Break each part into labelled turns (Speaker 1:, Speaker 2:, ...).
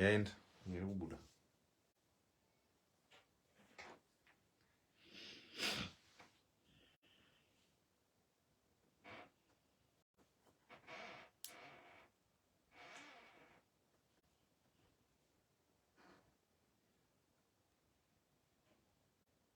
Speaker 1: yaenda iri kubuda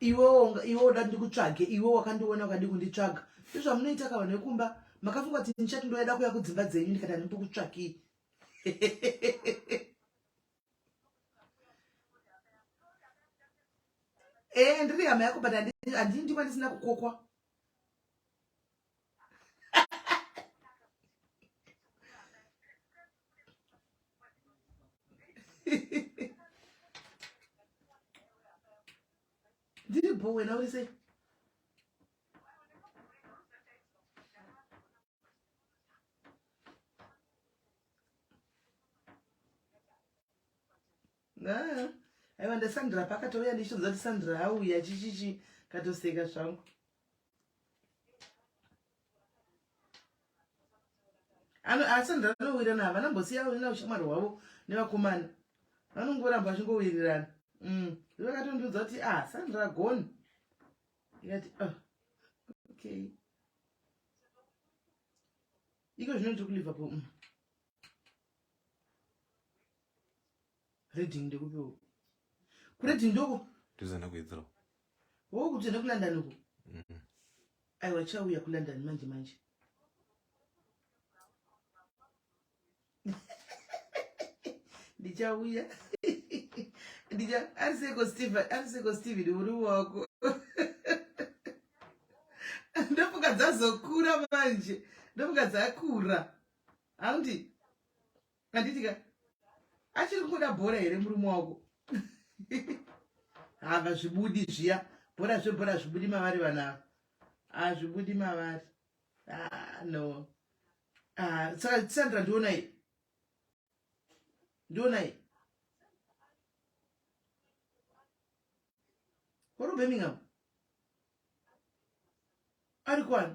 Speaker 2: iwe woda ndikutsvage iwe wakandiona ukadi kunditsvaga izvamunoita ka vanhu vekumba makafunga kuti ndichati ndoyada kuya kudzimba dzenyu ndikati handimbokutsvakii ee eh, ndiri hama yako but handii ndikwa ndisina kukokwa ndiri bho wena uri sei Ah, aiwa ndasandra pakatouya ndichitonza kuti sandra auya chichichi katoseka zvangu asi ndanowirirana havana mbosiya na ushamwari hwavo nevakomana vanongoramba vachingowirirana mm. vakatondiudza kuti ah sandra gone ikati ah, okay iko zvino ndiri kuliverpool mm. Reading ndekupi uko? Kureading ndoko? Tozana kuHeathrow.
Speaker 1: Wo kutenda
Speaker 2: kuLondon uko? Mhm. Mm Aiwa chauya kuLondon manje manje. Ndichauya. Ndicha ariseko Steve, ariseko Steve uri wako. Ndofuka dzazokura manje. Ndofuka dzakura. Handi. handiti ka achiri kungoda bhora here murume wako hava zvibudi zviya bhora zvebhora zvibudi mavari vana ava hazvibudi mavari ah, no ah, saka sandra ndionai ndionai uri birmingham ari kwani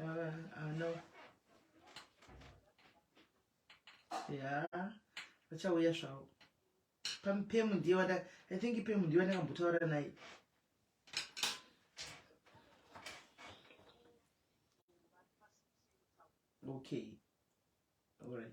Speaker 2: Uh, uh, no. Yeah. Vachauya zvavo. Pamupemu ndiye wada I think pemu ndiye wandakambotaura naye. Okay. All right.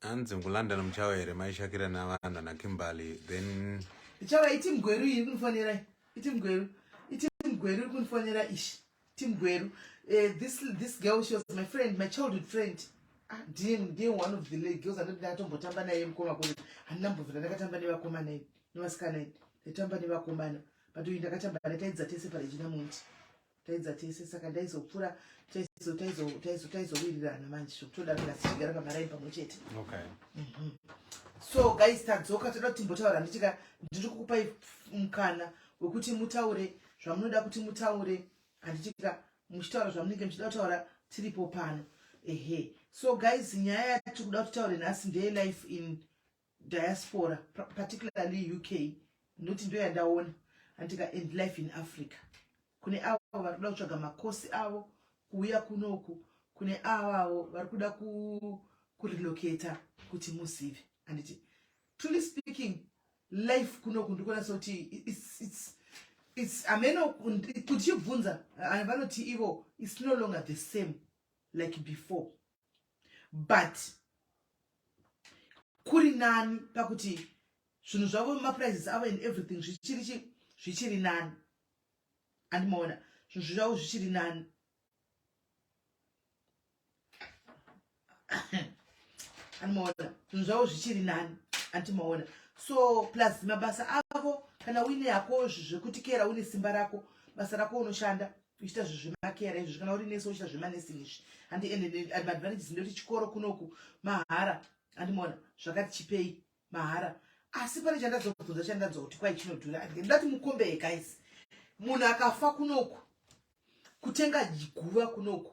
Speaker 1: hanzi mukulondon muchava here maishakira navanhu ana kimberly then ichava iti
Speaker 2: mgweru iyi kunifonera iti mgweru iti mgweru iri kunifonera ishi ti mgweru eh, this, this girl she was my friend my childhood friend ah, ndiye ndiye one of the girls andoti ndakatombotamba naye mukoma kune handina mbovira ndakatamba nevakomana idi nevasikana idi ndaitamba nevakomana but uyu ndakatamba naye taidza tese parejina monti taidza tese saka ndaizopfura taizowirirana manje zvokutoda kuti asi tigara pamaraini pamwe chete mhm. so guys tadzoka toda kuti timbotaura nditika ndiri kukupai mukana wekuti mutaure zvamunoda kuti mutaure handitika muchitaura zvamunenge muchida kutaura tiripo pano ehe so guys nyaya yatiri kuda kutitaure nhasi ndeyelife in diaspora particularly uk ndoti ndo yandaona andika and life in africa kune avo vari kuda kutsvaga makosi avo kuuya kunoku kune avavo vari kuda kurelocata kuti muzive anditi truly speaking life kunoku ndikuona sekuti it's, it's, it's ameno kutibvunza vanoti ivo it's no longer the same like before but kuri nani pakuti zvinhu zvavo maprices avo and everything zvichiri chi zvichiri nani andimaona zvinhu zvavo zvichiri nani andimaona zvinhu zvavo zvichiri nani andimaona so plus mabasa avo kana uine yako zvekutikera une simba rako basa rako unoshanda uchita zvezvemakera izvi kana uri nesi uchita zvemanesing izvi handi ende advantages ndekuti chikoro kunoku mahara andimona zvakati chipei mahara asi pane chandadzobvunza chandadzwa kuti kwai chinodhura ndati mukombee guys munhu akafa kunoku kutenga guva kunoku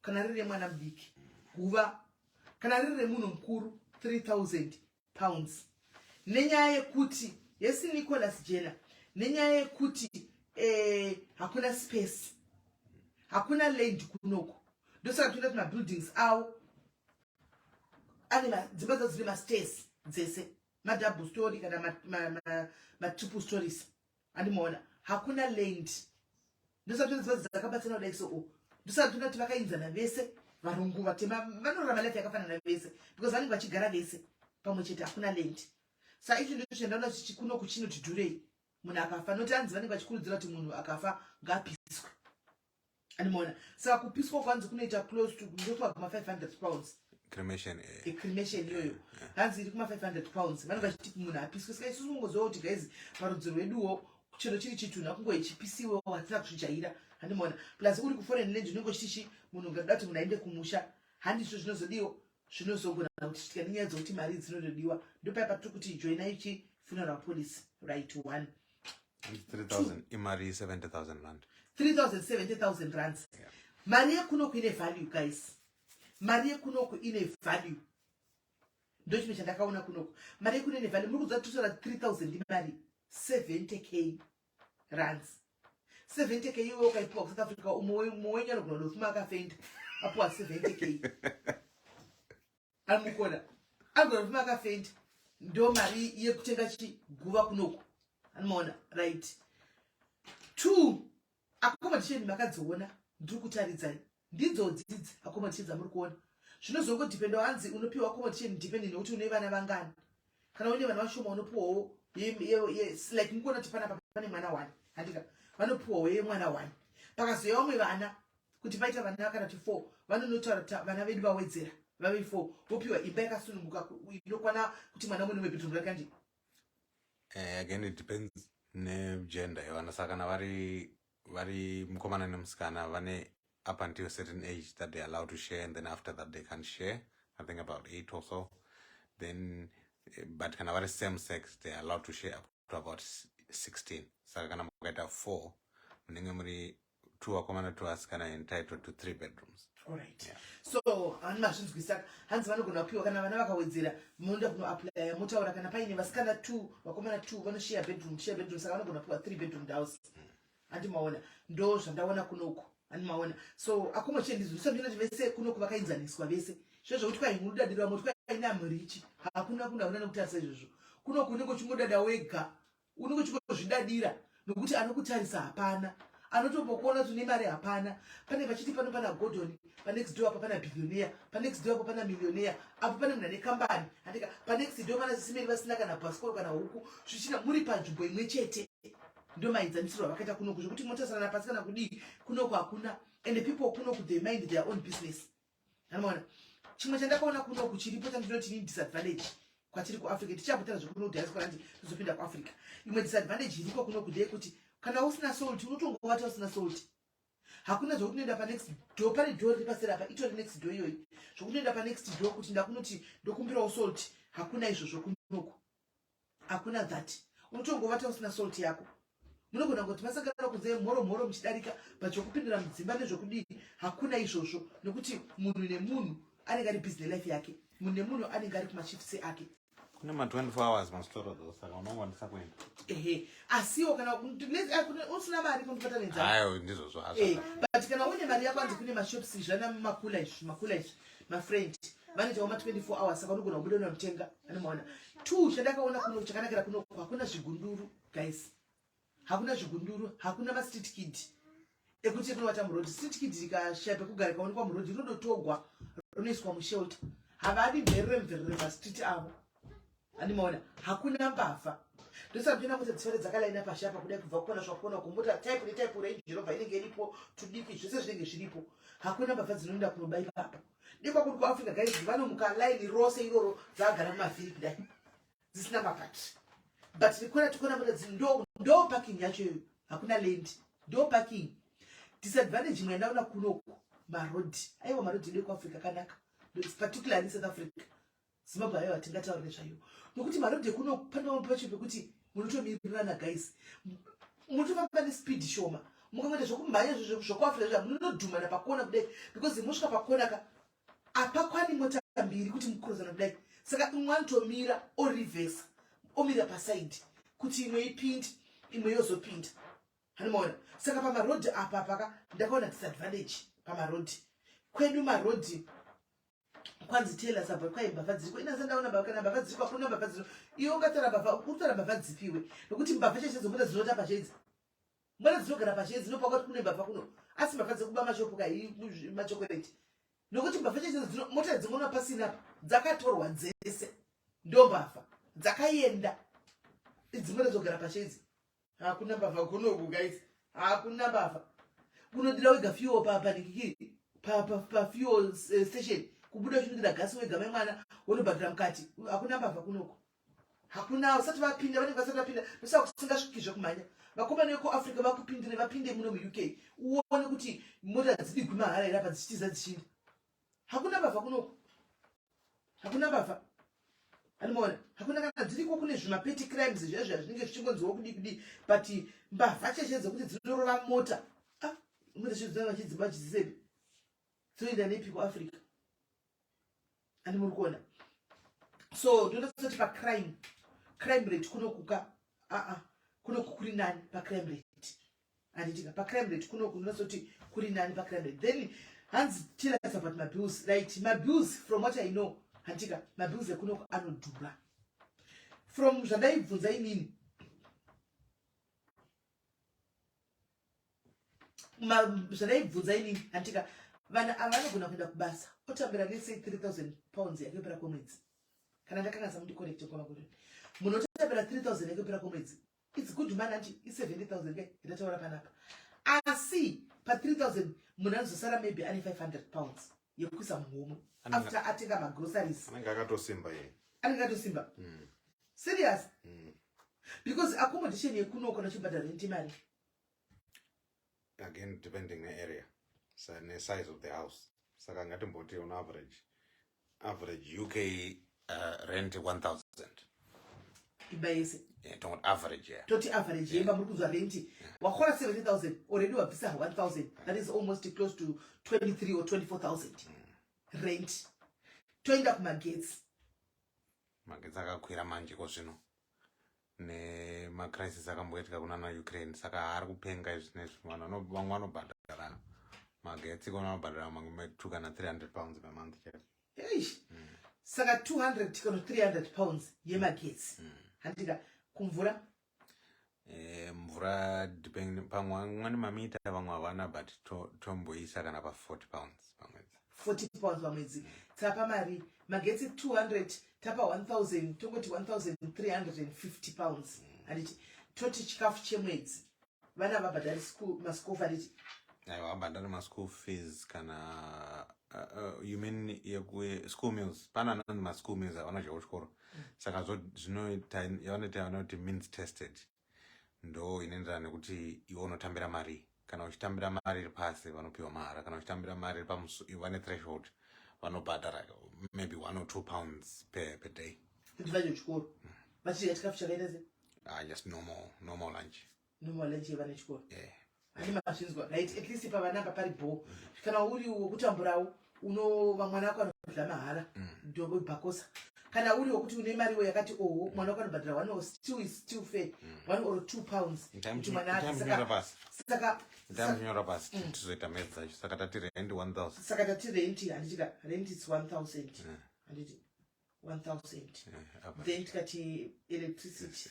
Speaker 2: kana riri remwana mudiki guva kana riri remunhu mukuru 3000 pounds nenyaya yekuti hesi nicholas jena nenyaya yekuti eh, hakuna space hakuna land kunoko ndosaka toenda kuti mabuildings awo ane dzimba dzadzine masters dzese madouble story kana matriple stories andimaona hakuna land ndosatondizva dzakabatsana kudai so oh, ndosatona kuti vakainzana vese varungu vatema vanorama life yakafanana vese because vanenge vachigara vese pamwe chete hakuna land sa ichi ndozviendaona zvichikuno kuchino tidhurei munhu akafa noti anzi vanenge vachikurudzira kuti munhu akafa ngapiswe animoona saka kupiswa kwanzi kunoita close to kuzotwa kuma 500 pounds cremation eh.
Speaker 1: e cremation iyoyo
Speaker 2: eh, eh. hanzi iri kuma 500 pounds vanenge vachiti munhu apiswe saka isusu kungoziva kuti guys parudzi rweduwo chero chiri chitunhu akungo ichipisiwewo hatina kuzvijaira handimona plus uri kuforeign land unenge uchiti chi munhu ungada kuti munhu aende kumusha handi izvo zvinozodiwo zvinozogona kuti chitika nenyaya dzokuti mari dzinotodiwa ndopaya patiri kuti joina ichi funeral policy right one
Speaker 1: imari 70000 rand
Speaker 2: 370000 rands mari yekunoku ine value guys mari yekunoku ine value ndochimwe chandakaona kunoku mari yekuno ine value muri kuziva titora 3000 imari 70 k rands 70 k iwe ukaipiwa kusouth africa umwe wenyu anogona dofuma akafenda apiwa 70 k amukona anogona dofuma akafenda ndo mari yekutenga chiguva kunoku anomaona right two accommodation makadziona ndiri kutaridzai Ndidzodzi idzi accommodation dzamuri kuona. Zvinozongo dependa hanzi unopiwa accommodation depending nekuti une vana vangani. Kana une vana vashoma unopiwawo yes like mukuona kuti panapa pane mwana one handika vanopiwawo yemwana one. Pakazouya vamwe vana kuti paita vana kana kuti four vanonotaura kuti vana vedu vawedzera vave four vopiwa imba yakasununguka inokwana kuti mwana umwe nebedroom rake andi. Eh, again
Speaker 1: it depends negender yevana saka kana vari vari mukomana nemusikana vane up until a certain age that they're allowed to share and then after that they can't share i think about eight or so then eh, but kana vari same sex they're allowed to share up to about 16 saka kana mukaita four munenge muri two vakomana two vasikana entitled to three bedrooms Alright.
Speaker 2: Yeah. So ani mazvinzwisisa hanzi vanogona kupiwa kana vana vakawedzera munoda kunoaplya motaura kana paine vasikana two vakomana two vanoshare bedroom share bedroom saka vanogona kupiwa three bedroom house handi maona ndo zvandaona kunoku handi maona so akumo chendizvisa ndina kuti vese kunoku vakainzaniswa vese zvezvokuti kwai mudadiro vamwe kuti kwai namurichi hakuna kuna kuna nekutarisa izvozvo kunoku unenge uchingodada wega unenge uchingozvidadira nokuti anokutarisa hapana anotombokuona kuti une mari hapana pane vachiti pano pana gordon panext door apo pana billioneya panext door apo pana millioneya apo pane munhu ane kambani andika panext door pana sisimeri vasina kana bhasikoro kana huku zvichina muri panzvimbo imwe chete ndio maenzanisiro avakaita kunoku zvekuti motarisana pasi kana kudii kunoku hakuna and people kunoku they mind their own business anoona chimwe chandakaona kunoku chiripo chandinoti ni disadvantage kwatiri kuafrica tichapotana zvekuno diaspora andi tozopinda kuafrica imwe disadvantage iriko kunoku ndeyekuti kana usina salt unotongovata usina salt hakuna zvokuti noenda panext do pane do riri paseri apa itori next do iyoyi zvokuti noenda panext do kuti ndakunoti ndokumbirawo salt hakuna izvozvo kunoku hakuna that unotongovata usina salt yako munogona kuti masangana kunze mhoro mhoro muchidarika but zvokupindira mudzimba nezvokudii hakuna izvozvo nekuti munhu nemunhu anenge ari busy nelife yake munhu nemunhu anenge ari kumachifsi ake kune ma 24 hours
Speaker 1: masitoro dho saka
Speaker 2: unongwanisa kuenda ehe asiwo kana eh, usina mari kundipata nenzaayo ndizvozvo
Speaker 1: azvo eh, but kana
Speaker 2: une mari yako anzi kune mashops izvi ana makula izvi makula izvi mafriend vanoitawo ma 24 hours saka unogona kubuda unamutenga anomaona two chandakaona kuno chakanakira kuno hakuna zvigunduru guys hakuna zvigunduru hakuna mastreet kid ekuti rinobata murodhi street kid rikashaya pekugara ikaonekwa murodhi rinodotogwa rinoiswa mushelter havadi mverere mverere mastreet avo andimaona hakuna mbavha ndosabvina kuti dzifare dzakalaina pashi apa kudai kubva kukona zvakukona kumota type netype range jerobha inenge iripo tudiki zvese zvinenge zviripo hakuna mbavha dzinoenda kunoba ipapa ndikwa kuti kuafrica guys vanomuka laini rose iroro dzaagara mumavhiri kudai dzisina mapati but ndikona tikona mota dzi ndo ndo parking yacho iyoyo hakuna land ndo parking disadvantage imwe yandaona kunoku marodi aiwa marodi edu ekuafrica akanaka particularly south africa Zimbabwe ayo hatingataurire zvayo nokuti marodhi ekuno pane vamwe pacho pekuti munotomirirana guys munotofamba nespeed shoma mukangoita zvekumhanya zvokuafira zva munonodhumana pakona kudai because mosvika pakona ka apakwani mota mbiri kuti mukuruzana kudai saka imwe anotomira orivhesa omira pasaidi kuti imwe ipindi imwe yozopinda hanimaona saka pamarodhi apa paka ndakaona disadvantage pamarodhi kwedu marodhi kwanzi tela sabva kwai mbavha dziriko ina sandaona mbavha kana mbavha dziriko akuna mbavha dziro iwe ungatara mbavha ukutara mbavha dzipi iwe nokuti mbavha chaicho dzomona dzinota pashe idzi mona dzinogara pashe idzi nopa kwati kune mbavha kuno asi mbavha dzekuba mashopu ka machokoreti nokuti mbavha chaicho dzino mota dzimona pasina apa dzakatorwa dzese ndombavha dzakaenda idzimona dzogara pashe idzi hakuna mbavha gonogu guys hakuna mbavha unodira wega fuel papa nikikiri pafuel eh, station kubuda uchinodira gasi wega mai mwana wonobhadhira mukati hakuna mbavha kunoku hakuna usati vapinda vanenge vasati vapinda nosaa kusingasviki zvekumhanya vakomana vekuafrica vakupindire vapinde muno muuk uone kuti mota dzidigwi mahara here apa dzichitiza dzichinda hakuna bava kunoku hakuna bava animoona hakuna kana dziriko kune zvimapeti crimes zviya zviya zvinenge zvichingonziwa kudii kudii but mbavha cheshe dzekuti dzinorova mota ah, mune zvidzina vachidzimba chizisepi dzinoenda nepi kuafrica ani muri kuona so ndinoda kusati pacrime crime rate kunokuka aa ah, ah, kunoku kuri nani pacrime rate handitika pacrime rate kuno kunozoti kuri nani pacrime rate then hanzi tell us about mabills right mabills from what i know handitika mabills ekunoko anodhura from zvandaibvunza inini zvadaibvunza inini handitika vanhu ava vanogona kuenda kubasa otambira nese 3000 pounds yakuyopera kwemwedzi kana ndakanasa mundicorecte kwamakuri munhu otambira 3000 yakuyopera kwemwedzi It's good man anti i 70000 ke ndataura panapa. Asi pa 3000 munhu anozosara maybe ane 500 pounds yekuisa muhomwe after atenga ma groceries. Anenge akatosimba
Speaker 1: yeye. Anenge akatosimba. Mm.
Speaker 2: Serious? Mm. Because accommodation yekuno kana chibhadharo ntimari. again
Speaker 1: depending ne area ne size of the house saka ngatimboti on average average uk uh,
Speaker 2: rent 1000
Speaker 1: imba yese eh, tongoti average yeah. toti average yeah. yemba muri
Speaker 2: kunzwa renti yeah. wakora 70000 already wabvisa 1000 yeah. that is almost close to 23 or 24000 mm. rent toenda kumagetsi magetsi akakwira
Speaker 1: manje ko zvino nemacrisis akamboitika kunana ukraine saka haari kupenga izvi nezvi vanhu vamwe vanobhadhara magetsi kona vanobhadhara mamwe two kana 300 pounds per month chete eish mm.
Speaker 2: saka 200 kana 300 pounds yemagetsi mm. handika kumvura eh, mvura
Speaker 1: depend pamwe vamwe nemamita vamwe havana but tomboisa kana pa 40 pounds pamwedzi 40 pounds pamwedzi
Speaker 2: tapa mari magetsi 200 tapa 1000 tongoti 1350 pounds handiti toti chikafu chemwedzi vana vabhadhari maschool handiti aiwa vabhadhari
Speaker 1: maschool fees kana uh, uh, you mean school meals pana anonzi maschool meals avana zvekuchikoro mm. saka zvinoita yavanoita vanoti means tested ndo inoenderana nekuti iwe unotambira marii kana uchitambira mari iri pasi vanopiwa mahara kana uchitambira mari iri pamusu ivo vane threshold vanobhadhara maybe one or two pounds per, per day kuti vadye chikoro
Speaker 2: mm. vachidya chikafu chakaita se ah just normal
Speaker 1: normal lunch normal lunch yevana
Speaker 2: chikoro yeah Ani
Speaker 1: mazvinzwa
Speaker 2: right at least pavana apa pari bho kana uri wokutamburawo unova mwana wako anodla mahara mm. dobo bhakosa kana uri wokuti une mari we yakati oho mwana wako anobhadhira one or still is still fair mm. one or two pounds kuti mwana ake saka ndamnyora
Speaker 1: pasi mm. tizoita mari dzacho saka tati rent one thousand saka tati rent
Speaker 2: handitika rent its one thousand handiti one thousand then tikati electricity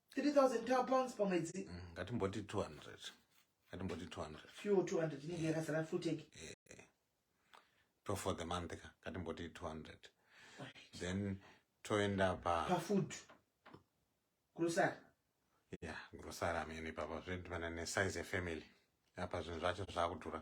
Speaker 2: 3000 pounds pamwedzi mm, ngatimboti 200
Speaker 1: ngatimboti 200
Speaker 2: fuel 200 inenge yakazara full tank eh, eh. to
Speaker 1: for the month ka ngatimboti 200 then toenda pa pafood
Speaker 2: grocery
Speaker 1: yeah grocery amene papa zvinhu pane nesize yefamily apa zvinhu zvacho zvakudhura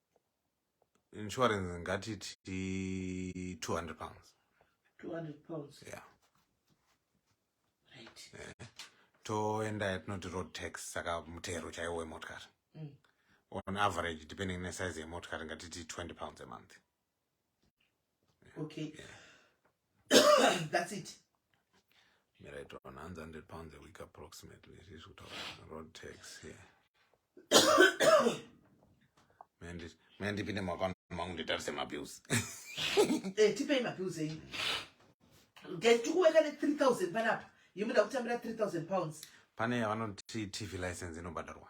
Speaker 1: insurance ngatiti 200 pounds 200
Speaker 2: pounds yeah
Speaker 1: right
Speaker 2: yeah. toenda
Speaker 1: yatinoti road tax saka mutero chaiwo wemotikari mm. on average depending nesize yemotikari ngatiti 20 pounds a month okay
Speaker 2: that's it
Speaker 1: miraito 100 pounds a week approximately zvizvi kutaura road tax here mandipinde makaona mangu nditarise mabills eh,
Speaker 2: tipei mabills enyu tikuweka ne 3000 panapa yemuda kutambira 3000 pounds pane yavanoti
Speaker 1: tv license inobhadharwa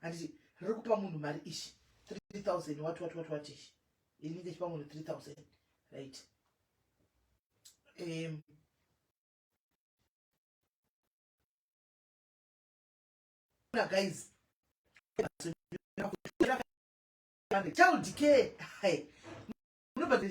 Speaker 2: handiti riri kupa munhu mari ishi 3000 what what what what ishi ini ndechipa munhu 3000 right um, guys child care hey, nobody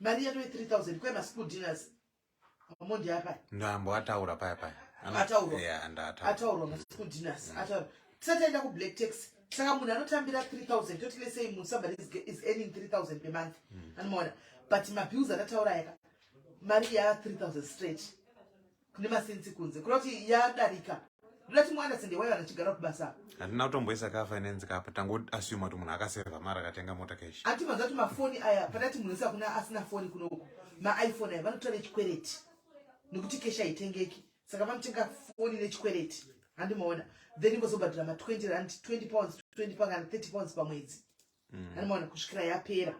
Speaker 2: mari yatove 3000 kwe maschool dinners amondi apa ndambo ataura paya
Speaker 1: paya ataurwa
Speaker 2: yeah, ataurwa
Speaker 1: maschool
Speaker 2: dinners mm. ataurwa tisataenda kublack tax saka munhu anotambira 3000 toti lesei munhu somebody is, is earning 3000 per month mm. anomaona but mabills atataura yaka mari ya 3000 straight kune masensi kunze kuda kuti yadarika ndoda kuti mwana sende wayo anachigara kubasa hatina kutomboisa ka
Speaker 1: finance kapa tango assume kuti munhu akaseva mari akatenga mota cash ati manzwa kuti mafoni
Speaker 2: aya patati munhu wese akuna asina foni kunoku maiphone aya vanotora nechikwereti nekuti cash haitengeki saka vanotenga foni nechikwereti handimaona then vozobhadhira ma 20 rand 20 pounds 20 pounds kana 30 pounds pamwedzi mm. anomwana kusvikira yapera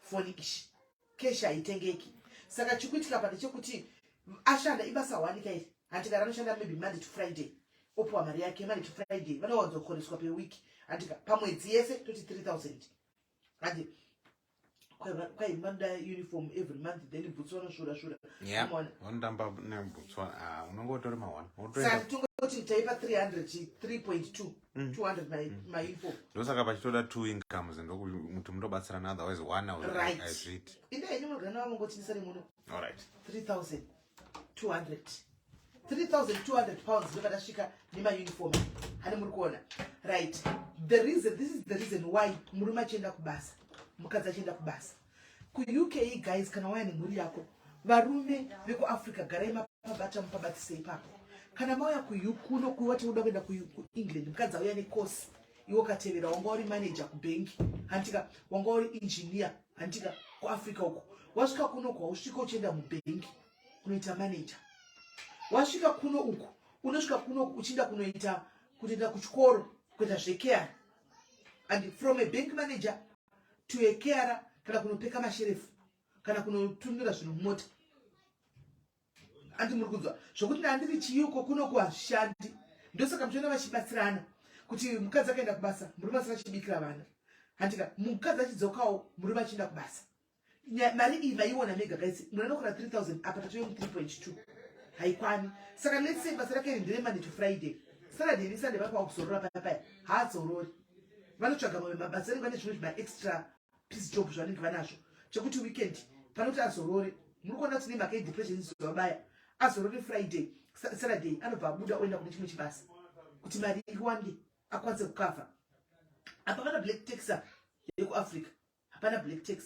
Speaker 2: foni ishi keshi haitengeki saka chikuitika pa ndechekuti ashanda ibasa wanika iri handikara anoshanda maybe monday to friday opiwa mari yake monday to friday vanowanza kukoreswa peweek handika pamwedzi yese toti 3000 handi kwaimanda uniform every month then bhutsu vanoshura shura vanotamba
Speaker 1: nebhutsu ah,
Speaker 2: unonge utori mawana
Speaker 1: saka tongoti
Speaker 2: taipa 300 3.2 Mm. 200 my, mm. my info ndosaka pachitoda two
Speaker 1: incomes ndokuti mutobatsirana otherwise one right azviti
Speaker 2: inde ini
Speaker 1: murugana wavo
Speaker 2: ngotinisa remuno all right 3200 3200 pounds ndoba tasvika nemauniform hane muri kuona right the reason this is the reason why murume achienda kubasa mukadzi achienda kubasa kuUKE guys kana waya nemhuri yako varume vekuafrica garai mapabata mupabatise ipapo kana mauya kuno kuwati uda kuenda kuengland mukadzi auya necourse iwo katevera wanga uri manager kubhengi hantika wanga uri engineer hantika kuafrica uko wasvika kuno uko hausvika uchienda mubhengi kunoita manager wasvika kuno uko unosvika kuno uchienda kunoita kutoenda kuchikoro kuita zvekea and from a bank manager tuekera kana kunopeka masherefu kana kunotumira zvinhu mumota andi muri kunzwa zvokuti nandiri chiyuko kuno kuhashandi ndosaka muchiona vachibatsirana kuti mukadzi akaenda kubasa murume asina chibikira vana handika mukadzi achidzokawo murume achienda kubasa mari iyi maiona mega guys munanokora 3000 apa tatoyo mu 3.2 haikwani saka let's say basa rake iri ndere monday to friday saturday nesunday vapaa kuzorora paya paya haadzorori vanotsvaga mamwe mabasa anenge vane zvimwe zvimaextra piece job zvavanenge vanazvo chekuti weekend panoti azorore muri kuona kuti nemhaka yedepression zuva baya azorore friday saturday anobva abuda oenda kune chimwe chibasa kuti mari iwande akwanise kukavha apa vana black taxa yekuafrica hapana black tax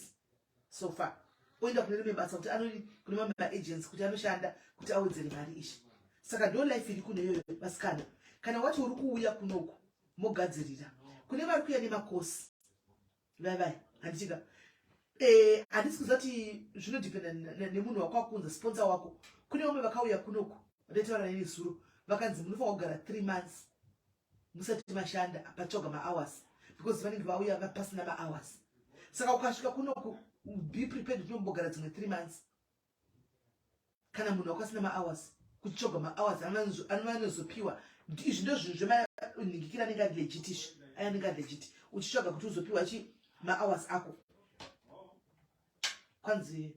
Speaker 2: so far oenda kune rimwe basa kuti anoi kune mamwe maagents kuti anoshanda kuti awedzere mari izvi saka ndo life iri kune iyoyo vasikana kana wati uri kuuya kunoku mogadzirira kune vari kuya nemakosi vai vai handitika eh, handisi kuziva kuti zvinodependa nemunhu wako wakunza sponsor wako kune vamwe vakauya kunoku vataitaura neni zuro vakanzi munofanira kugara three months musati mashanda patsvaga mahours because vanenge vauya vapasina mahours saka ukasvika kunoku be prepared kuti unombogara dzimwe three months kana munhu wakasina mahours kutsvaga mahours anovanozopiwa izvi ndo zvinhu zvemanhingikira anenge ari legit izvi aya anenge ari legit uchitsvaga kuti uzopiwa chi mahours ako kwanzi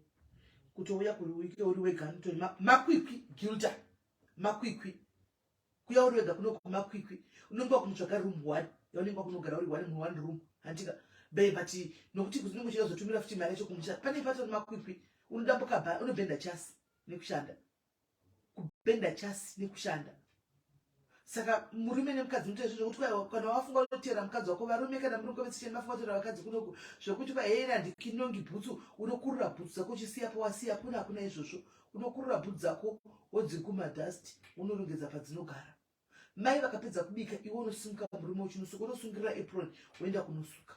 Speaker 2: kutouya kuri wike uri wega notoni makwikwi gilta makwikwi kuya uri wega kuno kumakwikwi unenge wakumutsvaga room one yaunenge wakunogara uri one mu one room hantika be but nokuti kunenge uchida kuzotumira futi mari yacho kumusha pane pato makwikwi unodambuka ba unobhenda chasi nekushanda kubhenda chasi nekushanda saka murume nemukadzi mutoita izvo zvekuti kwaiwa kana wafunga unotera mukadzi wako varume kana muri kukovetsecheni vafunga kutera vakadzi kunoku zvekuti kwai heyera ndikinongi bhutsu unokurura bhutsu dzako uchisiya powasiya kuna hakuna izvozvo unokurura bhudhi dzako wodzikuma dust unorongedza padzinogara mai vakapedza kubika iwe unosimuka murume uchinosuka unosungirira apron woenda kunosuka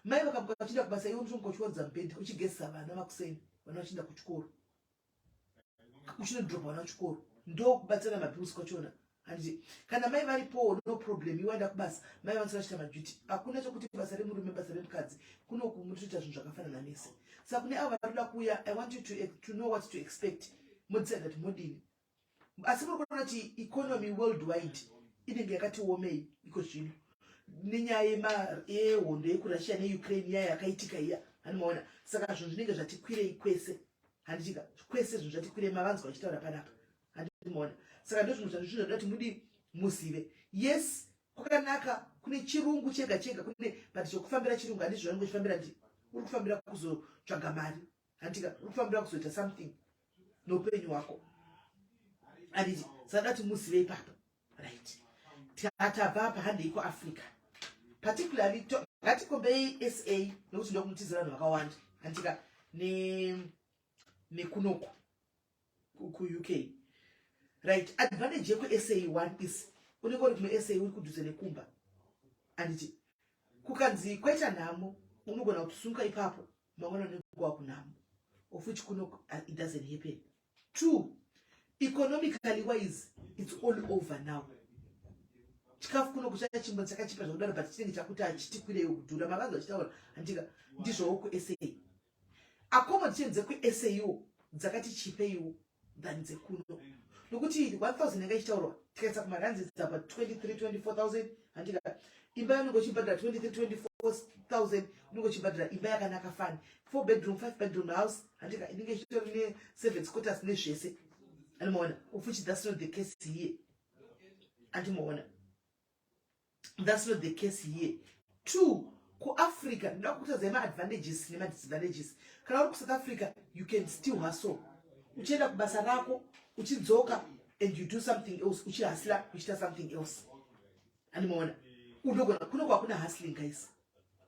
Speaker 2: mai vakamuka vachienda kubasa iwe unotomuka uchiwadza mubhedha uchigezesa vana makuseni vana vachienda kuchikoro uchinodhirobha vana kuchikoro ndokubatsira mapiusi kwachona hanzi kana mai varipowo no problem iwaenda kubasa mai vanzi vachita maduty hakuna chokuti basa remurume basa remukadzi kunokumuritoita zvinhu zvakafanana mese saka kune avo vanoda kuuya i want you to, to know what to expect modzisa that modini asi muri kuona kuti economy world wide inenge yakati womei iko zvino nenyaya yehondo yekurussia neukraine nyaya yakaitika iya hanimaona saka zvinhu zvinenge zvatikwirei kwese handitika kwese zvinhu zvatikwirei mavanzwa vachitaura panapa handiti muona saka ndozvinhu zvanhu zvinhu zvakuda kuti mudi muzive yes kwakanaka kune chirungu chega chega kune but chokufambira chirungu handizvo zvanenge uchifambira ndi uri kufambira kuzotsvaga mari handitika uri kufambira kuzoita something noupenyu hwako handiti saka ndati muzive ipapo right tatabva apa handei kuafrica particularly ngatikombei sa nokuti ndokunotizira vanhu vakawanda handitika nekunoku ne kuUK right advantage yekuSA one is unenge uri kuSA uri kudhuze nekumba anditi kukanzi kwaita nhamo unogona kutusunga ipapo mangwana nekuwa kunhamo of which kuno uh, it doesn't happen two economically wise it's all over now chikafu kuno kuchachimbo chakachipa zvakudaro but chinenge chakuti achitikwirei kudhura mavanzi vachitaura handika ndizvowo kuSA accommodation dzekuSAO dzakati chipeiwo than dzekuno nokuti 1000 yanga ichitaurwa tikaisa kumaranzi dzapa 23-24000 handika imba yanonge uchibhadhira 23-24000 unonge uchibhadhira imba yakanaka fani 4 bedroom 5 bedroom house handika inenge ichitori ne seven scotters nezvese andimaona ufuchidhasino the case here andimaona thats not the case here two kuafrica ndoda kukutaza maadvantages nemadisadvantages kana uri kusouth africa you can still hustle uchienda kubasa rako uchidzoka and you do something else uchihasla uchita something else andimaona unogona kuno kwakuna hustling guys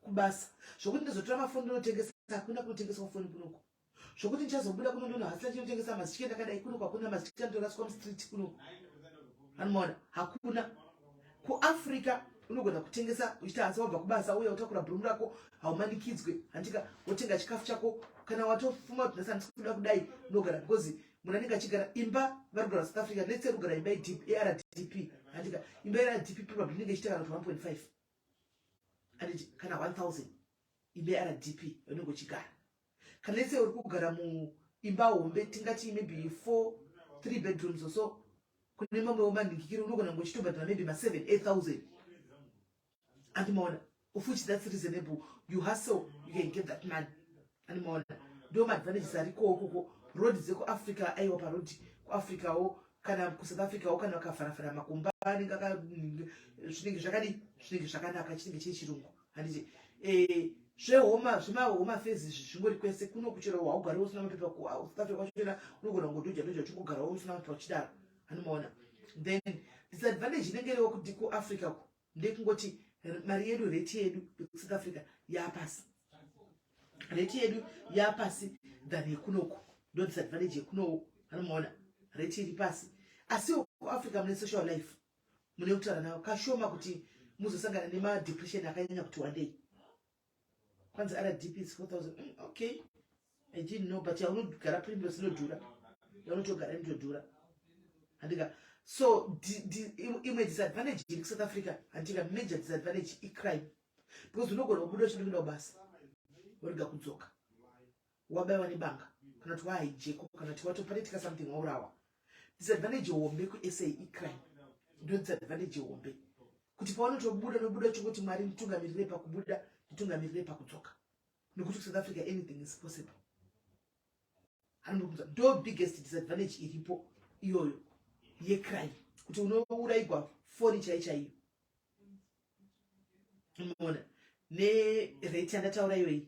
Speaker 2: kubasa zvokuti ndozotora mafoni ndinotengesa hakuna kunotengeswa foni kunoko zvokuti ndichazobuda kuno ndono hasina chinotengesa mazitye ndakadai kuno kwakuna mazitye anotoraswa mustreet kuno anomaona hakuna kuafrica unogona kutengesa uchita hansa wabva kubasa uya utakura bhurumu rako haumanikidzwe handika wotenga chikafu chako kana watofuma kuti nhasi handisi kuda kudai unogara because munhu anenge achigara imba vari kugara south africa netse ri kugara imba ardp handika imba ardp probably inenge ichiita kana kuti 1.5 anditi kana 1000 imba ardp unenge uchigara let's say uri kugara muimba hombe tingati maybe four three bedrooms or so kune mamwewo manhingikiri unogona kunge uchitobhadhara maybe maseven eight thousand andimaona of which that's reasonable you hustle you can get that money andimaona ndo maadvantages arikowo koko road dzekuafrica aiwa paroad kuafricawo kana kusouth africawo kana vakafaravara makumba anenge zvinenge zvakadi zvinenge zvakanaka chinenge chiri chirungu handiti eh, zvehoma zvemahoma fezi izvi zvingori kwese kuno kuchera haugari usina mapepa kusouth africa kwachera unogona kungodoja doja uchingogarawo usina mapepa uchidaro anomaona then disadvantage inenge iriwo kuti kuafrica ku ndekungoti mari yedu reti yedu yekusouth africa yapasi reti yedu yapasi than yekunoku ndo disadvantage yekunowo anomaona reti iri pasi asiwo kuafrica mune social life mune kutaura navo kashoma kuti muzosangana nemadepression akanyanya kuti wandei kwanzi rdp is 4000 mm, okay i didn't know but yaunogara primrose inodhura yaunotogara inotodhura handika so imwe disadvantage iri kusouth africa handika major disadvantage icrime because unogona kubuda uchindokuenda kubasa worega kudzoka wabaiwa nebanga kana kuti waai jeko kana kuti watopanetika something waurawa disadvantage hombe kusa icrime ndo disadvantage hombe kuti pawanotobuda nobuda chokuti mwari nditungamirire pakubuda nditungamirire pakudzoka nokuti kusouth africa anything is possible anombobvunza ndo biggest disadvantage iripo iyoyo yecrime kuti unouraigwa foni chai chaiyo mona nerate yandataura iyoyi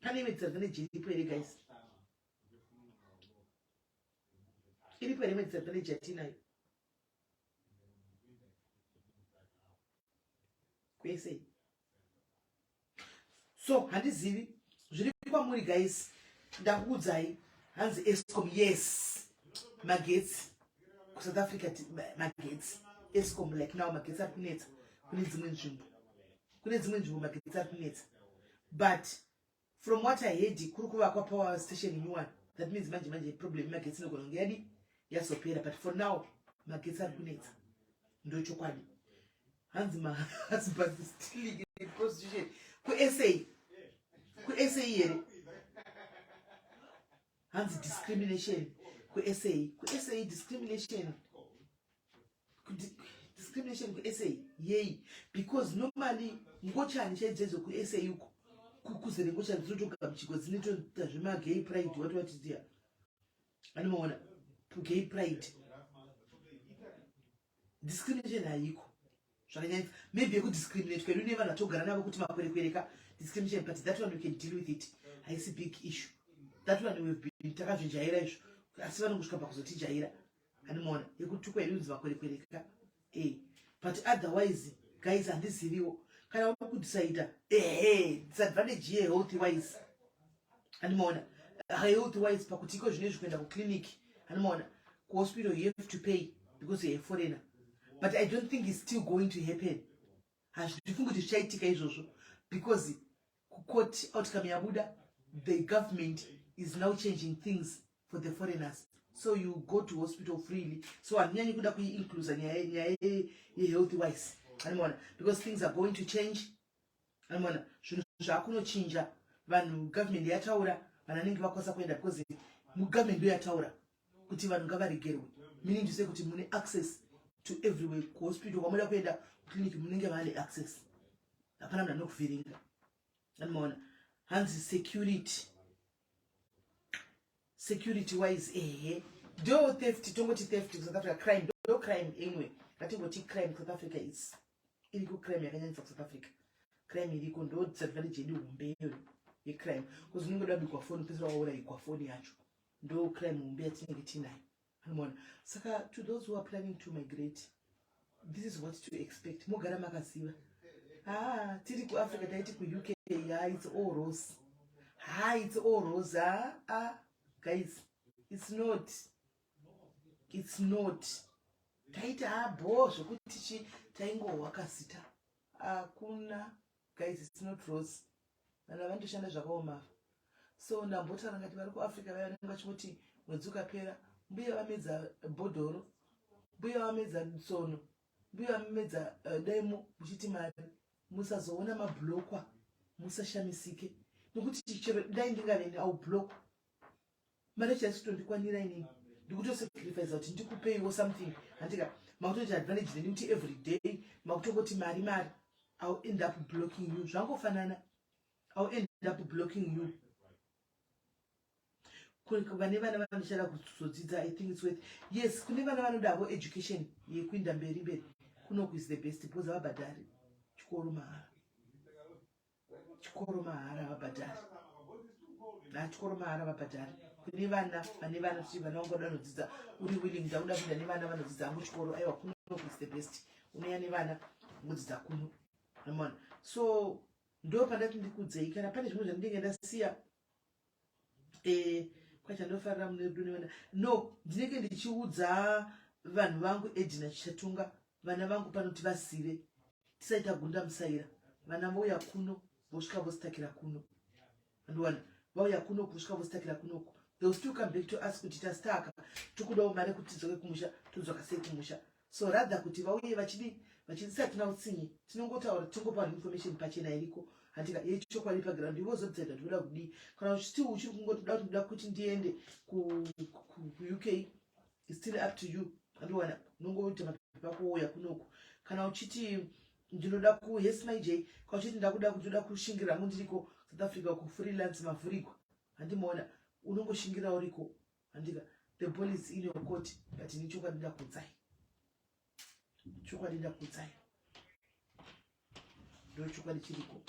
Speaker 2: pane imwe dzirza nejiripo here guys iripo here imwe dzirza nejatinayo kwese so handizivi zviri kwamuri guys ndakuudzai hanzi escom yes magetsi kusouth africa magetsi escom like now magetsi ari kunetsa kune dzimwe nzvimbo kune dzimwe nzvimbo magetsi ari kunetsa but from what i heard kuri kuvakwa power station new one that means manje manje problem magetsi inogona kunge yadi yazopera but for now magetsi ari kunetsa ndochokwadi hanzi mahusbandstiliprostitution kusa kusa here hanzi discrimination kusa kusa discrimination discrimination kusa yei because normally ngochani chaidzedzwe kusa uko kuzere ngochani dzinotogamuchigwa dzinotoita zvemagay pride wati watitia anomaona gay pride discrimination haiko zvakanyanya maybe yekudiscriminate kwedu ne vanhu atogara navo kuti makwerekwereka discrimination but that one we can deal with it haisi big issue that one we've been takazvijaira izvo asi vanongosvika pakuzotijaira animoona yekutukwa inonzi vakwerekwereka eh but otherwise guys handiziviwo kana unokudisaita ehe disadvantage ye health wise animoona health wise pakuti iko zvine zvikuenda kuclinic animoona kuhospital you have to pay because you're a foreigner but i don't think it's still going to happen hazvifungi kuti zvichaitika izvozvo because kukoti outcome yabuda the government is now changing things for the foreigners so you go to hospital freely so handinyanyi kuda kuiinclusa nyaya yehealthy wise animona because things are going to change animona zvinhu zvakunochinja vanhu government yataura vanhu anenge vakwasa kuenda because mugovernment ndoyataura kuti vanhu ngavaregerwe meaning to say kuti mune access to everywhere kuhospital kwamoda kuenda kuclinic munenge vane access hapana munhu anokuvhiringa anomaona hanzi security security wise ehe do theft tongoti theft kusouth africa crime do crime imwe ngatingoti crime kusouth africa is iri kucrime yakanyanyisa kusouth africa crime iriko ndo disadvantage yedu hombe iyoyo yecrime bcause unenge dabikwa foni pesera waurayigwa foni yacho ndo plan hombe yatinenge tinayo mona saka to those who are planning to migrate this is what to expect mogara makaziva haa ah, tiri kuafrica taiti kuuk haa its all rose haa its all rose haa ah, ah, guys its not its not taiti haa bhoo zvekuti chi taingohwa kasita hakuna guys it's not rose vanhu vavandoshanda zvakaoma ava so ndambotaura ngati vari kuafrica vaya vanenge vachingoti mwedzi ukapera mbuya vamedza bhodhoro mbuya vamedza tsono mbuya vamedza uh, eh, demo muchiti mari musazoona mablokwa musashamisike nokuti chero dai ndingaveni aublokwa mari chasi tondikwanira inini ndikutosacrifice kuti ndikupeiwo something handika makutoita advantage neni kuti every day makutongoti mari mari ill end up blocking you zvangofanana ill end up blocking you vane vana vanochada kuzodzidza i think its worth yes kune vana vanodavo education yekuinda mberi mberi kunoku is the best because havabhadhari chikoro mahara chikoro mahara vabhadhari nachikoro mahara vabhadhari kune vana vane vana kuti vana vangu vanoda nodzidza uri willing ndakuda kuenda nevana vanodzidza angu chikoro aiwa kuno is the best unoya nevana mudzidza kuno amona so ndo pandati ndikudzei kana pane zvimwe zvandinenge ndasiya eh, kwachandofarira mune rudo nevana no ndinenge ndichiudza vanhu vangu edina chichatunga vana vangu pano tivazive tisaita gunda musaira vana vouya kuno vosvika vositakira kuno andiwana vauya kuno kusvika vositakira kunoku theyll still come back to us kuti tastaka tikudawo mari kuti tidzoke kumusha todzoka sei kumusha so rather kuti vauye vachidii vachidisa tina utsinye tinongotaura tingopa information pachena iriko handika yechokwadi paground ivo zodzaida tinoda kudii kana uchiti uchiri kungotoda kuti ndoda kuti ndiende kuuk still up to you andowana unongoita mapepa kuuya kunoku kana uchiti ndinoda kuhes my j kana uchiti ndakuda kuti uda kushingira mundiriko south africa kufreelance mavhurigwa handimaona unongoshingira uriko Handika, the ball is in your court, but ini chokwadi ndakudzai. Chokwadi ndakudzai. Ndo chokwadi chiriko.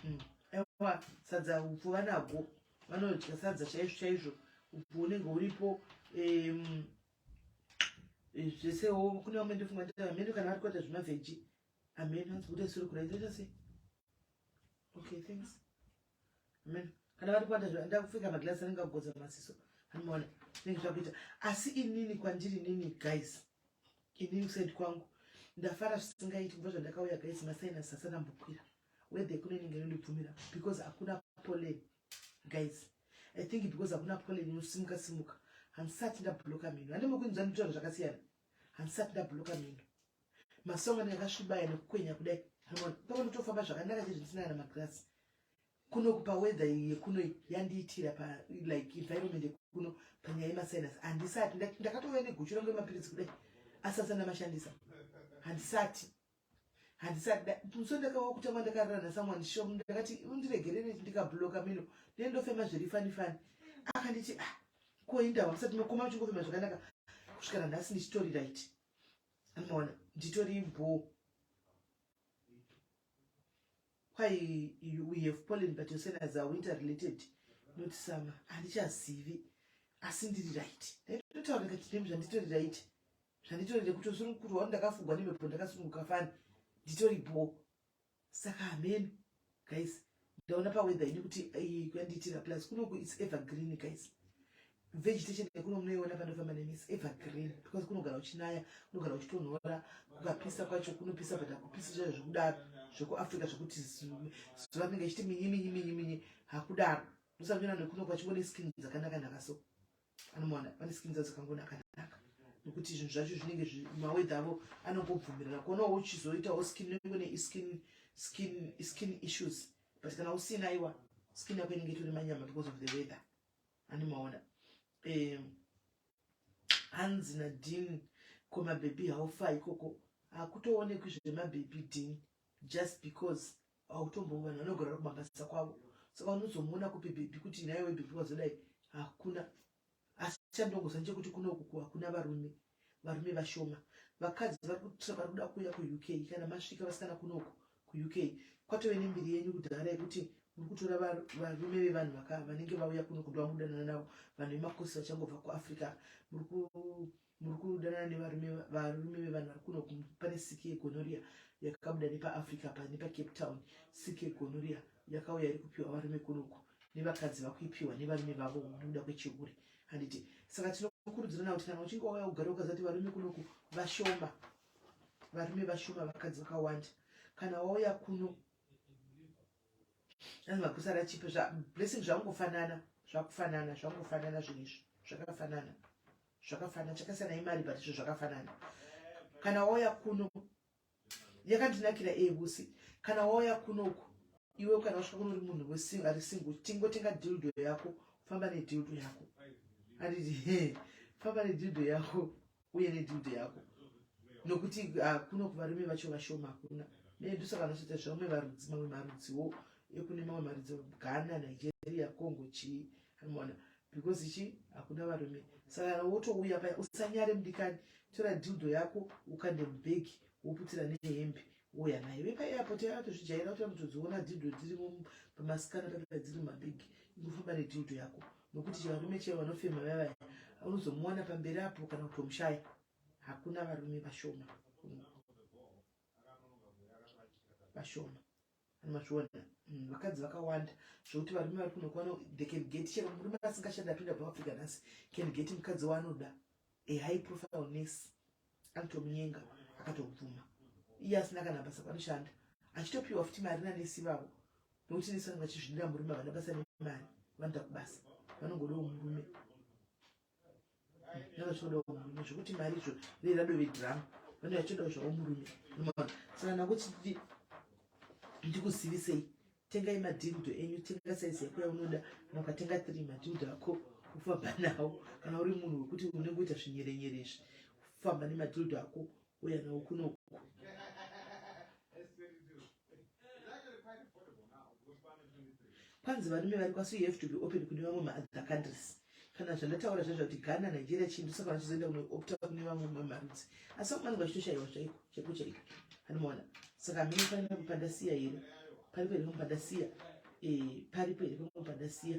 Speaker 2: Mm. Ewa, sadza upfu vanagwo. Vanodya sadza chaizvo chaizvo. Upfu unenge uripo. Um, zvesewo kune vamwe ndofunga kuti ameno kana vari kuita zvemavheji ameno anzi kuti asiri kuraita chase okay thanks amen kana vari kuwanda zve nda kupfeka maglass anenge agodza maziso anomaona zvinenge zvakuita asi inini kwandiri nini guys inini kusend kwangu ndafara zvisingaiti kubva zvandakauya guys masainas asana mbokwira wethe kune inenge inondibvumira because hakuna pollen guys i think because hakuna pollen inosimuka simuka hansati ndabloka mhino handimbokuinzwa nditaura zvakasiyana handisati ndabhuloka mino masongo anenge akasvibaya nekukwenya kudai pamwe ndotofamba zvakanaka chezvo ndisina kana magirasi kuno kupa weather yekuno yandiitira pa like environment yekuno panyaya yemasinus handisati ndakatouya neguchu rangu yemapiritsi kudai asati andamashandisa handisati handisada so ndakava kutanga ndakarara nasomeone shop ndakati undiregerere ndikabloka mino then ndofema zviri fani fani akanditi ah koindava musati makoma uchingofema zvakanaka kusvikana nhasi ndichitori right amaona nditori bho kwai we have pollen but yosenas are winter related not summer handichazivi asi ndiri right ndaitotaura kati nemzvanditori right zvanditori ndekutosunukuru wanu ndakafugwa nemhepo ndakasununguka fani nditori bho saka hameno guys ndaona paweather ini kuti eh, kuyandiitira plus kunoku its evergreen guys vegetation yekuno munoiona panofamba nemi its evergreen because kunogara uchinaya kunogara uchitonhora kukapisa kwacho kunopisa but hakupisi zvayo zvekudaro zvekuafrica zvekuti zuva rinenge ichiti minyi minyi minyi minyi hakudaro ndosanoona nekuno kwachingone skin dzakanaka naka so anomona vane skin dzadzo dzakangonaka naka nokuti zvinhu zvacho zvinenge mawedha avo anongobvumirana kuonawo uchizoitawo skin unenge une iskin skin skin issues but kana usina iwa skin yako inenge itori manyama because of the weather animaona um hanzi nadin ko mabhebhi haufa ikoko hakutoonekwi zvemabhebhi din just because hautombovi vanhu vanogara kumabasa kwavo saka unozomuona kupi bhebhi kuti naiwe bhebhi wazodai hakuna asi chandongoziva chekuti kunokuku hakuna varume varume vashoma vakadzi vari kutra vari kuda kuuya kuuk kana masvika vasikana kunoku kuuk kwatove nembiri yenyu kudhara yekuti muri kutora varume vevanhu vanenge vauya kuno kuda vamudanana navo vanhu vemakosi vachangobva kuafrica muri muri kudanana nevarume varume vevanhu vari kuno pane siki yegonoria yakabuda nepaafrica pa nepacape town siki yegonoria yakauya iri kupiwa varume kunoku nevakadzi vakuipiwa nevarume vavo nekuda kwechihure handiti saka tinokurudzirana kuti kana uchinge wauya kugara ukazati varume kunoku vashoma varume vashoma vakadzi vakawanda kana wauya kuno anzi makusara chipi blessing zvangofanana zvakufanana zvangofanana zvinhu izvi zvakafanana zvakafanana chakasiyana imari but izvo zvakafanana kana wauya kuno yakandinakira ebusi kana wauya kuno uku iwe kana wasvika kuno uri munhu ari single tingotenga dildo yako famba nedildo yako anditi he famba nedildo yako uye nedildo yako nokuti ah, kuno kuvarume vacho vashoma hakuna medu saka anotoita zvamwe varudzi mamwe marudziwo ekune mamwe marudzi ghana nigeria congo chii Mona because chi hakuna varume saka wotouya paya usanyare mudikani tora dildo yako ukande mubhegi woputira nehembe uya nayo vepa airport yatozvijaira kuti anotodziona dildo dziri pamasikana paa dziri mumabhegi ingofamba nedildo yako nokuti chivarume chee vanofema vavaya unozomuwana pamberi apo kana kutomushaya hakuna varume vashoma vashoma machiona mm, vakadzi vakawanda zvekuti varume vari kuno kuwana they can get chero murume asingashandi apinda muafrica nhasi can get mukadzi waanoda a high profile nurse anotomunyenga akatobvuma iye asina kana basa panoshanda achitopiwa futi mari nanesi vavo nokuti nesi vanenge vachizvidira murume havana basa nemari vanoda kubasa vanongodawo murume zvekuti mari izvo rei radove drama vane vachitodawo zvavo murume saka nakuti ndikuzivisei tengai madhildo enyu tenga saizi yako yaunoda kana ukatenga three madhildo ako kufamba nawo kana uri munhu wekuti unenge uita zvinyerenyere izvi kufamba nemadhildo ako uya nawo kunoku kwanzi varume vari kwaso you have to be open kune vamwe maother countries kana zvandataura zvaizva kuti ghana nigeria chii ndosaka vachizoenda kunoopta kune vamwe mamarudzi asi vamwe vanenge vachitoshayiwa chaiko chaiko chaiko anomaona saka mine pane pamwe pandasiya here paripo here pamwe pandasiya eh, paripo here pamwe pandasiya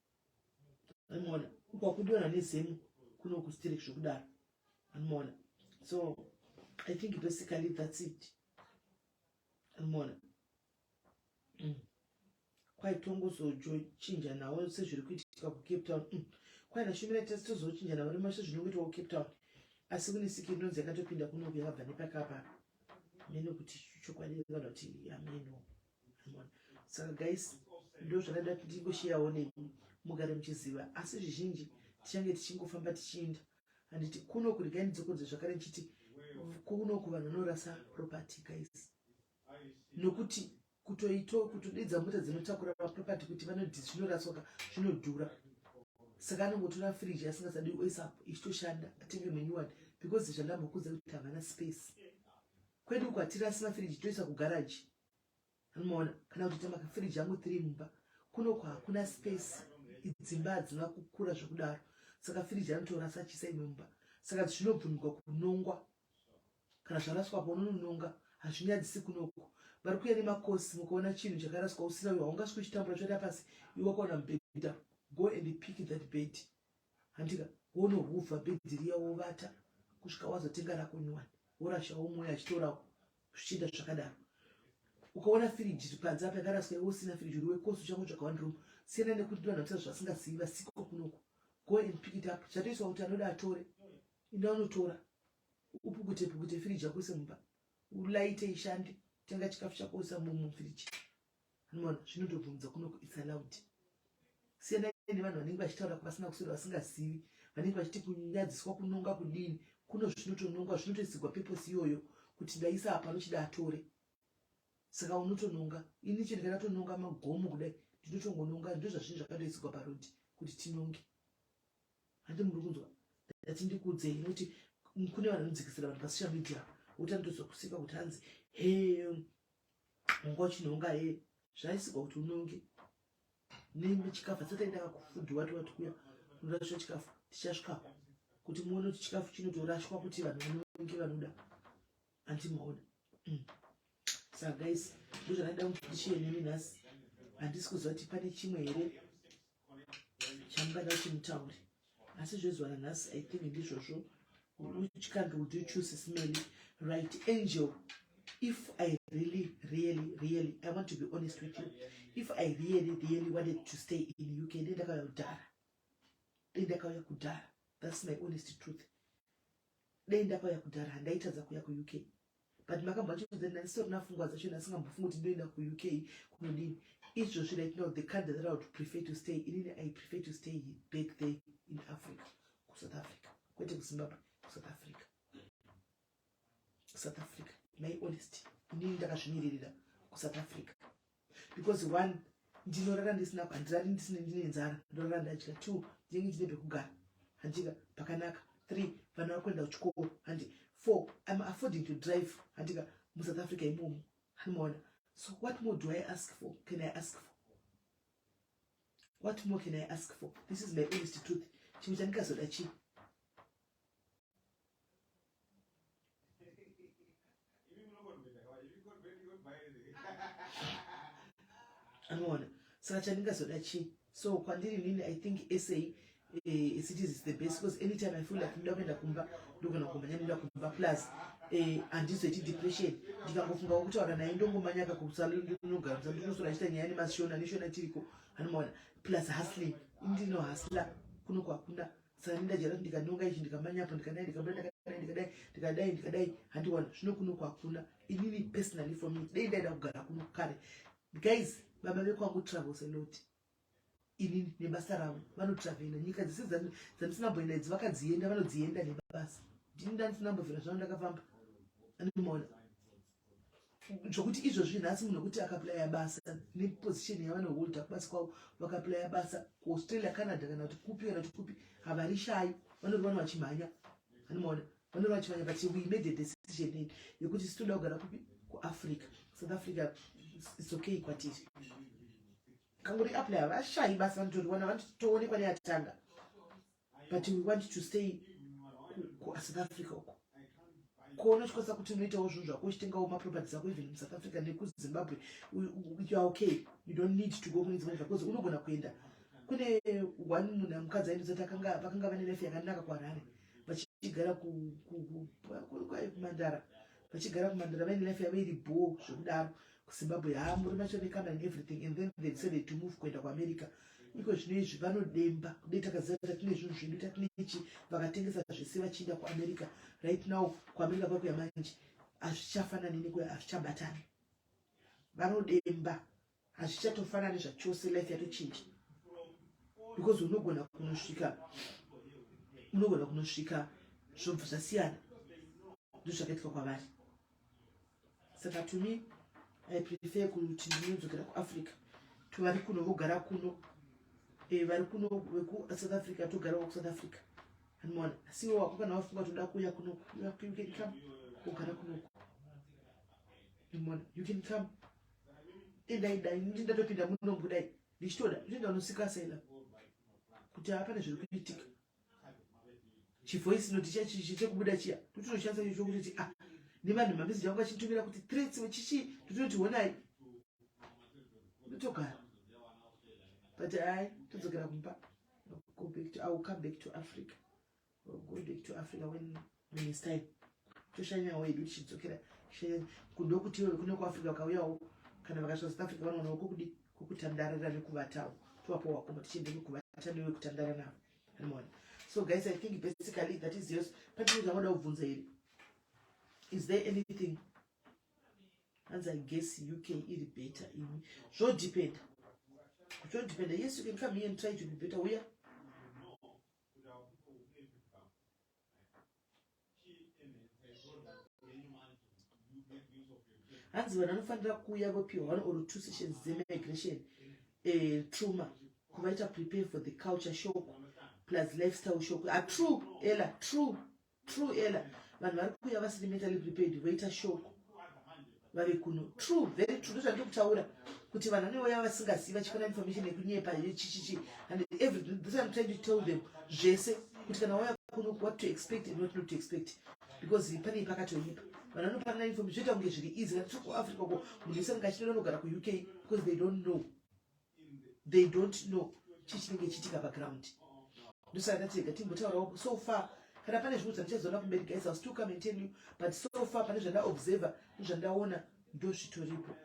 Speaker 2: anomaona ukwakudiona nezemu kuno kusterek zvokudaro anomaona so i think basically thats it anomaona mm. kwaitongozojochinja nawo sezviri kuitika kucape town mm. kwaina shumira tese tozochinja nawo rimashe zvinongoitwa kucape town asi kune sikiri inonzi yakatopinda kunoku yakabva nepakapa mene kuti chokwadi kana kuti ameno saka guys ndo zvakaida kuti ndingosheyawo nemi mugare muchiziva asi zvizhinji tichange tichingofamba tichiinda handiti kuno kurigai ndidzokodze zvakare ndichiti kuno kuvanhu vanorasa property guys nokuti kutoito kutodidza mota dzinotakura maproperty kuti vanodhi zvinoraswaka zvinodhura saka anongotora firiji asingasadi oisap ichitoshanda atenge menyuwani because zvandambokudza kuti havana space kwedu kwatirasi mafiriji toisa kugaraji anomaona kana kutoita makafiriji angu three mumba kunoko hakuna space idzimba hadzina kukura zvekudaro saka firiji anotora sachisa imwe mumba saka zvinobvumirwa kunongwa kana zvaraswa pa unonononga hazvinyadzisi kunoko vari kuya nemakosi mukaona chinhu chakaraswa usina uyo haungaswi uchitambura choita pasi iwakaona mubhedha go and pick that bed handika wonohuvha bhedhi riya wovata kusvika wazotenga rako nyuwani worashawo mwoyo achitorawo zvichienda zvakadaro ukaona firiji ri panze apa yakaraswa iwe usina firiji uri wekosi uchangotsvaga one room siyana nekuti vanhu vatiza zvasingazivi vasiko kunoko go and pick it up zvatoiswa kuti anoda atore inda unotora upukute pukute firiji yako ise mumba ulaite ishande tenga chikafu chako usa mumufiriji Anomwana zvinotobvumudza kunoku it's allowed. Siyanai nevanhu vanenge vachitaura kwavasina kuswera vasingazivi vanenge vachiti kunyadziswa kunonga kudini kuno zvinotonongwa zvinotoisigwa peposi iyoyo kuti ndaisa apa anochida atore saka unotononga ini chiri kana tononga magomo kudai ndinotongononga ndozvazvinhu zvakandoisigwa parodi kuti tinonge handi muri kunzwa ndati ndikuudzei nokuti kune vanhu vanodzikisira vanhu pasocial media wotandozwa kusika kuti hanzi he unga uchinhonga hee zvaisikwa kuti unonge nemi chikafu tsataendaka kufudhiwa tiwati kuya unorasha chikafu tichasvikako kuti muone kuti chikafu chinotorashwa kuti vanhu vanonge vanoda anti maona mm. saka guys ndozvanaida kuti ndichiye nemi nhasi handisi kuziva kuti pane chimwe here chamukada kuti mutaure asi zvezuva ranhasi i think ndizvozvo which country would you choose smelly right angel if i really really really i want to be honest with you if i really really wanted to stay in uk ndendakauya kudhara ndendakauya kudhara that's my honest truth Dai ndapaya kudhara handaitadza kuya ku UK. But makabva chonzani ndandisitorina fungwa dzacho ndasingambofungi kuti ndoenda ku UK kunodini. Izvozvi right now the country that I would prefer to stay in, I prefer to stay back there in Africa, ku South Africa. Kwete ku Zimbabwe, ku South Africa. South Africa, my honesty. Ndini ndakazvimiririra ku South Africa. because one ndinorara ndisina pandirari ndisina ndine nzara ndorara ndadya two ndinenge ndine pekugara handika pakanaka three vana vakuenda kuchikoro handi four im affording to drive handika musouth africa imomo handimaona so what more do i ask for can i ask for what more can i ask for this is my honest truth chimwe chandikazoda chii anoona saka chandingazoda chii so kwandiri nini i think sa eh, city is the best because anytime i feel like ndoda kuenda kumba ndogona kumanya ndoda kumba plus eh, handizoiti depression ndikangofunga kutaura naye ndongomanya kakusainogarusa ndinosora chita nyaya nemashona neshona tiriko anomaona plus hustling ndino hustler kuno kwakunda sani ndajara kuti ndikadonga ichi ndikamanyapo ndikadai ndikadai ndikadai ndikadai ndikadai handiwana zvino kuno kwakuna inini personally for me dei ndaida kugara kuno kare guys baba vekwangu travels alot inini nebasa ravo vanotravela nyika dzese dzandisina mboenda idzi vakadzienda vanodzienda nebasa ndini ndandisina mbovhera zvavo ndakafamba andimaona zvokuti izvozvi nhasi munhu wekuti akaplaya basa neposition yavanoholda kubasa kwavo vakaplaya basa kuaustralia canada kana kuti kupi kana kuti kupi havarishayi vanori vano vachimhanya vanomaona vanori vachimhanya but we made a decision in yekuti sitoda kugara kupi kuafrica south africa its okay kwatiri kanguri aplaya vashayi basa vanotoriwana vanotoonekwa neatanga but we want to stay kusouth africa uko kuona uchikwanisa kuti unoitawo zvinhu zvako uchitengawo maproperty zako even musouth africa nekuzimbabwe youare okay you don't need to go kune dzimwe nyika bcause unogona kuenda kune one munhu amukadzi aindozati akanga vakanga vane life yakanaka kuharare vachigara kumandara vachigara kumandara vaine life yavo iri bho zvekudaro kuzimbabwe haa muri machonekana and everything and then they decided to move kuenda kuamerica iko zvino izvi vanodemba kudai takaziva kuti tatine zvinhu zvedu tatine ichi vakatengesa zvese vachiinda kuamerica right now kuamerica kwakuya manje hazvichafanani nekuya hazvichabatani vanodemba hazvichatofanani zvachose life yatochinja because unogona kunosvika unogona kunosvika zvobva zvasiyana ndozvakaitwa kwavari saka to me i prefer kuti ndinodzokera kuafrica to vari kuno vogara kuno eh, vari kuno vekusouth africa togarawo kusouth africa anmona asiwo wako kana wafunga toda kuuya kuno you can come wogara kunoku anmona you can come endai dai ndi ndatopinda muno budai ndichitoda zvinoda unosikasa ila kuti hapana zviri kuitika chivoice note chiya chichi chekubuda chiya totinoshandisa icho chokutoti a ah, nevanhu mameseji vangu vachitumira kuti threats chichi totinoti honai ndotogara but hai todzokera kumba go back to, i will come back to africa Go back to Africa when when it's time. Toshanyawo hedu tichidzokera kudo kuti iwe kuno kuAfrica ukauyawo kana vakasvika South Africa vanoonawo kokudi kokutandarira nekuvatawo tovapo wakoma tichienda nekuvata newe kutandara navo animoona so guys i think basically that is yours patine zvavoda kubvunza here is there anything hanzi i guess uk iri better imi zvodependa zvodependa yes you can come here and try to be better uya yeah? Kuda uko upepi bvako chii enhedza yenyu manje hanzi vanhu vanofanira kuuya vopiwa one or two sessions dzemigration eh, truma kuvaita prepare for the culture shock plus lifestyle shock atrue ah, ela true True Ella, vanhu vari kuuya vasiri mentally prepared voita shoko vave kuno. True, very true. Ndozvandiri kutaura kuti vanhu vanouya vasingazivi vachifana information yekunyepa yechichichi and everything. This I'm trying to tell them zvese kuti kana wauya kuno what to expect and what not to expect because pane pakatoipa vanhu vanopanana information zvoita kunge zviri easy kana tiri kuafrica ko munhu wese anenge achitoda anogara kuuk because they don't know they don't know chii chinenge chiitika paground ndosaka tega timbotaurawo so far kana pane zvimwe zvandichazoona kumberi guys ill still come and tell you but so far pane zvandaobserver nezvandaona ndo zvitoripo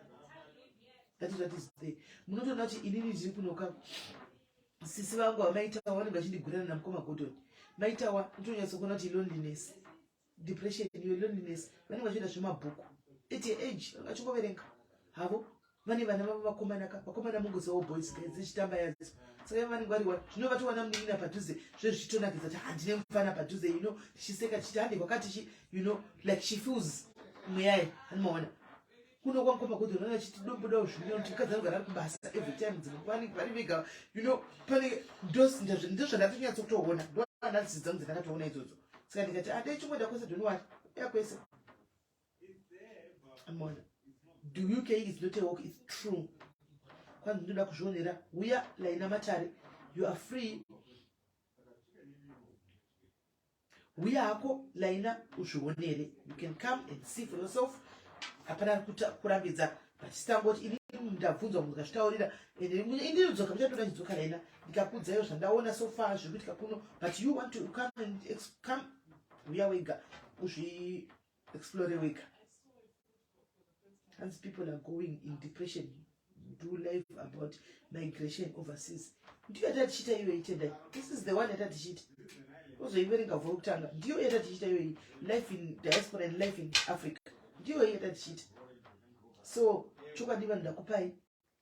Speaker 2: that is what is there munotoona kuti inini ndiri kunoka sisi vangu vamaitawa vanenge vachindigurana namukoma godoni maitawa ndotonyatsokuona kuti iloneliness depression iyo loneliness vanenge vachiita zvemabhuku at your age vachingoverenga havo vane vana vavo vakomanaka vakomana mungozivawo boys guys dzichitamba yadzo saka vanenge variwa zvino vatowana munin'ina padhuze zve zvichitonakidza kuti handine mufana padhuze you know tichiseka tichiti hande kwakati chi you know like she feels mweyaye hanimaona kuno kwakopa kuti unenge achiti dobuda uzvino kuti mukadzi anogara ari kubasa every time dzimwe vanenge vari vega you know pane dos ndozvandatonyatso kutoona ndoanalisi dzangu dzandakatoona idzodzo saka ndikati adai ah, chongoda kwese doniwari ya kwese amona do you care is not a walk is true kwanzi ndinoda kuzvionera uya laina matare you are free Huya hako Laina uzvionere. You can come and see for yourself. Hapana kurambidza but sitangoti ini ndabvunzwa munhu kazvitaurira and ini ndodzoka muchatoda chidzoka Laina ndikakudza iyo zvandaona so far zviri kuitika kuno but you want to come and come huya wega uzvi explore wega hanzi people are going in depression do life about migration overseas ndiyo yatatichiita iyo itendai this is the one yatatichiita ozoiverenga vhura kutanga ndiyo yatatichiita iyo life in diaspora and life in africa ndiyo yatatichiita so chokwadi vanhu ndakupai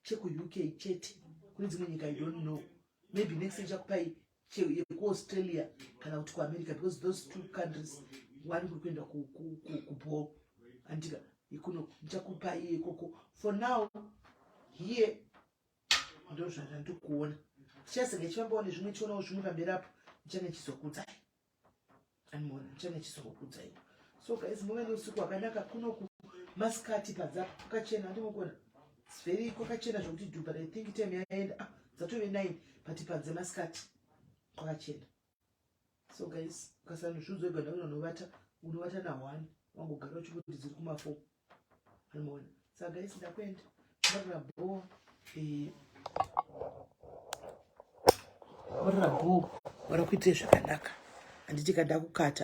Speaker 2: chekuuk chete kune dzimwe nyika i don't know maybe next ichakupai yekuaustralia kana kuti kuamerica because those two countries one kuri kuenda kubho andika ikuno ndichakupai ikoko for now here ndozvandandikuona chichasenge chivambawo nezvimwe chionawo zvimwe pamberi apo ndichange chizokudzai anmore ndichane chisokokudza ipo so guys muve neusiku hwakanaka kunoku masikati padza kwakachena andimukona zveri kwakachena zvokuti du but i think time yaenda ah, dzatove nine but padze masikati kwakachena so guys ukasanozviudzwa iganda unonovata unovata nahwani wangogara uchingoti dziri kumafo Unoona? Saka guys ndakuenda. Ndakura boo. Eh. Ora boo. Ora kuite zvakanaka. Handiti kada kukata.